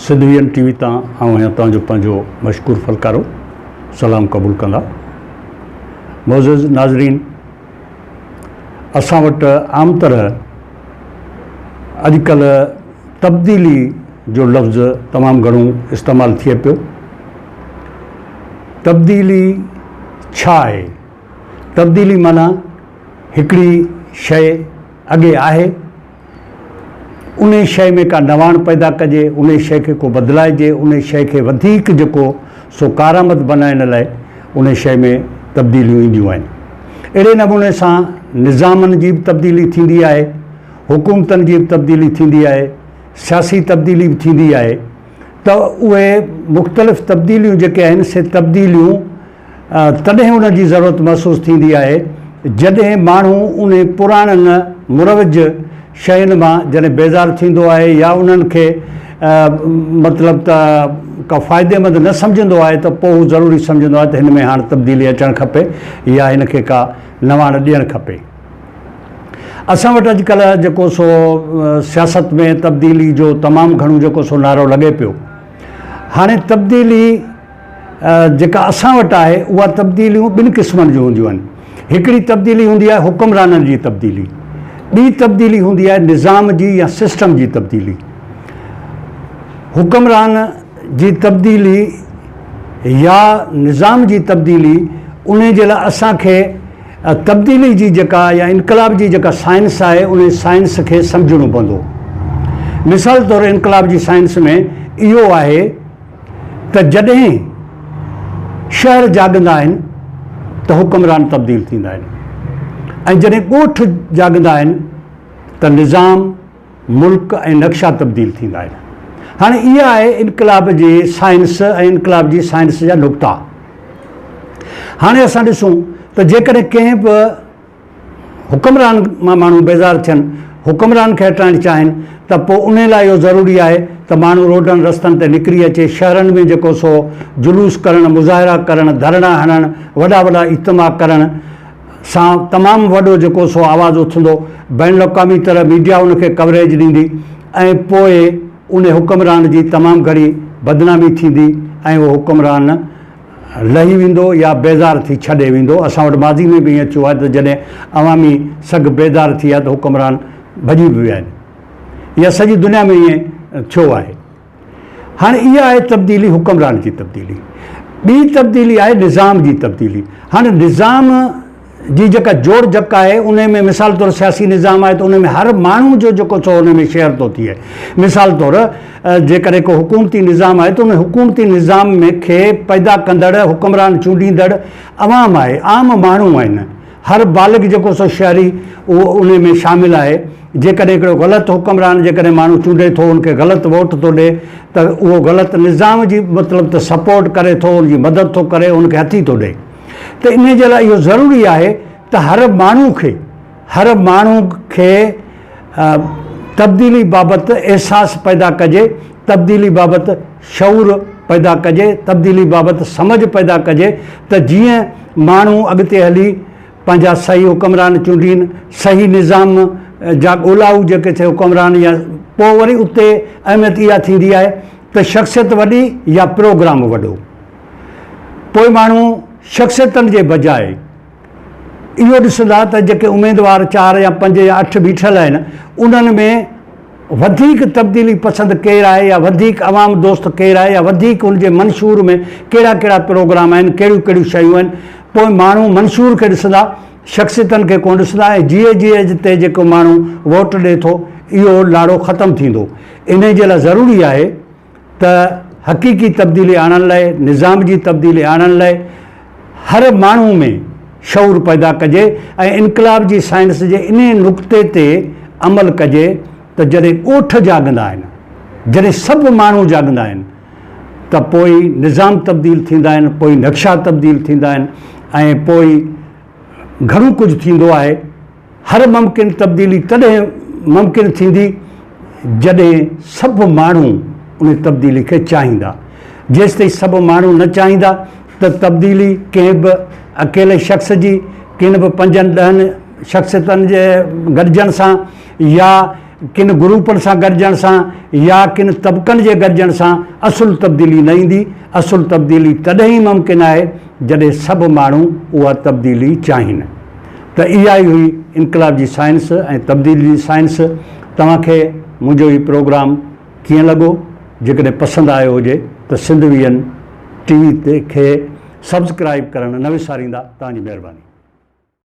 Sindh V M T V تان آئون آهيان توهان جو پنهنجو مشڪور فلڪارو سلام قبول ڪندا معزز ناظرين اسان وٽ عام طرح اڄ ڪلهه تبديلي جو لفظ تمام گهڻو استعمال ٿئي پيو تبديلي ڇا آهي تبديلي معنيٰ هڪڙي شيء اڳي آهي انهي شيء ۾ ڪا نواڻ پيدا ڪجي، انهي شيء کي ڪو بدلائجي، انهي شيء کي وڌيڪ جيڪو سو ڪارآمد بنائڻ لاء انهي شيء ۾ تبديليون اينديون آهن. اهڙي نموني سان نظامن جي به تبديلي ٿيندي آهي، حڪومتن جي به تبديلي ٿيندي آهي، سياسي تبديلي به ٿيندي آهي ته اهي مختلف تبديليون جيڪي آهن سي تبديليون تڏهن ان جي ضرورت محسوس ٿيندي آهي جڏهن ماڻهو انهي پراڻن مروج شين مان جڏهن بيزار ٿيندو آهي يا انهن کي مطلب ته ڪا فائديمند نه سمجهندو آهي ته پوء هو ضروري سمجهندو آهي ته هن ۾ هاڻ تبديلي اچڻ کپي يا هن کي ڪا نواڻ ڏيڻ کپي. اسان وٽ اڄڪلهه جيڪو سو سياست ۾ تبديلي جو تمام گهڻو جيڪو سو نعرو لڳي پيو هاڻي تبديلي. جيڪا اسان وٽ آهي اها تبديليون ٻن قسمن جون هونديون آهن. هڪڙي تبديلي هوندي آهي حڪمرانن جي تبديلي. ٻي تبديلي هوندي آهي نظام جي يا سسٽم جي تبديلي. حڪمران جي تبديلي يا نظام جي تبديلي انهي جي لاء اسان کي تبديلي جي جيڪا يا انقلاب جي جيڪا سائنس آهي انهي سائنس کي سمجهڻو پوندو. مثال طور انقلاب جي سائنس ۾ اهو آهي. ته جڏهن شهر جاڳندا آهن ته حڪمران تبديل ٿيندا آهن ۽ جڏهن ڳوٺ جاڳندا آهن ته نظام، ملڪ ۽ نقشا تبديل ٿيندا آهن. هاڻي اها آهي انقلاب جي سائنس ۽ انقلاب جي سائنس جا نقطا. هاڻي اسان ڏسون ته جيڪڏهن ڪنهن به حڪمران مان ماڻهو بيزار ٿين، حڪمران کي هٽائڻ چاهين ته پوء انهي لاء اهو ضروري آهي ته ماڻهو روڊن رستن تي نڪري اچي، شهرن ۾ جيڪو سو جلوس ڪرڻ، مظاهرا ڪرڻ، ڌرڻا هڻڻ، وڏا وڏا اجتماع ڪرڻ سان تمام وڏو جيڪو سو آواز اٿندو، بين الاقوامي طرح ميڊيا ان کي ڪوريج ڏيندي ۽ پوء انهي حڪمران جي تمام گهڻي بدنامي ٿيندي ۽ اهو حڪمران لهي ويندو يا بيزار ٿي ڇڏي ويندو، اسان وٽ ماضي ۾ به ائين ٿيو آهي ته جڏهن عوامي سگهه بيدار ٿي آهي ته حڪمران ڀڄي به ويا آهن يا سڄي دنيا ۾ ائين ٿيو آهي. هاڻ اها آهي تبديلي حڪمران جي تبديلي. ٻي تبديلي آهي نظام جي تبديلي. هاڻ نظام. جي جيڪا جوڙ جڪ آهي انهي ۾ مثال طور سياسي نظام آهي ته انهي ۾ هر ماڻهو جو جيڪو سو انهي ۾ شيئر ٿو ٿئي مثال طور جيڪڏهن ڪو حڪومتي نظام آهي ته انهي حڪومتي نظام ۾ کي پيدا ڪندڙ حڪمران چونڊيندڙ عوام آهي عام ماڻهو آهن هر بالغ جيڪو سو شهري اهو انهي ۾ شامل آهي جيڪڏهن هڪڙو غلط حڪمران جيڪڏهن ماڻهو چونڊي ٿو ان کي غلط ووٽ ٿو ڏي ته اهو غلط نظام جي مطلب ته سپورٽ ڪري ٿو ان جي مدد ٿو ڪري ان کي هٿي ٿو ڏي. ته انهيء جي لاء اهو ضروري آهي ته هر ماڻهو کي هر ماڻهو کي تبديلي بابت احساس پيدا ڪجي، تبديلي بابت شعور پيدا ڪجي، تبديلي بابت سمجهه پيدا ڪجي ته جيئن ماڻهو اڳتي هلي پنهنجا صحيح حڪمران چونڊين، صحيح نظام جا ڳولائو جيڪي ٿي حڪمران يا پوء وري اتي اهميت اها ٿيندي آهي ته شخصيت وڏي يا پروگرام وڏو. پوء ماڻهو شخصيتن جي بجاء اهو ڏسندا ته جيڪي اميدوار چار يا پنج يا اٺ بيٺل آهن انهن ۾ وڌيڪ تبديلي پسند ڪير آهي يا وڌيڪ عوام دوست ڪير آهي يا وڌيڪ ان جي منشور ۾ ڪهڙا ڪهڙا پروگرام آهن ڪهڙيون ڪهڙيون شيون آهن پوء ماڻهو منشور کي ڏسندا شخصيتن کي ڪونه ڏسندا ۽ جي اي جي ايج تي جيڪو ماڻهو ووٽ ڏي ٿو اهو لاڙو ختم ٿيندو انهي جي لاء ضروري آهي ته حقيقي تبديلي آڻڻ لاء، نظام جي تبديلي آڻڻ لاء هر ماڻهو ۾ شعور پيدا ڪجي ۽ انقلاب جي سائنس جي انهي نقطي تي عمل ڪجي ته جڏهن ڳوٺ جاڳندا آهن، جڏهن سڀ ماڻهو جاڳندا آهن ته پوء ئي نظام تبديل ٿيندا آهن، پوء ئي نقشا تبديل ٿيندا آهن ۽ پوء ئي گهڻو ڪجهه ٿيندو آهي. هر ممڪن تبديلي تڏهن ممڪن ٿيندي جڏهن سڀ ماڻهو ان تبديلي کي چاهيندا. جيستائين سڀ ماڻهو نه چاهيندا ته تبديلي ڪنهن به اڪيلي شخص جي، ڪن به پنجن ڏهن شخصيتن جي گڏجڻ سان يا ڪن گروپن سان گڏجڻ سان يا ڪن طبقن جي گڏجڻ سان اصل تبديلي نه ايندي. اصل تبديلي تڏهن ئي ممڪن آهي جڏهن سڀ ماڻهو اها تبديلي چاهين. ته اها ئي هئي انقلاب جي سائنس ۽ تبديلي جي سائنس. توهان کي منهنجو هي پروگرام ڪيئن لڳو؟ جيڪڏهن پسند آيو هجي ته Sindh V N T V کي سبسڪرائيب ڪرڻ نه وساريندا. توهان جي مهرباني.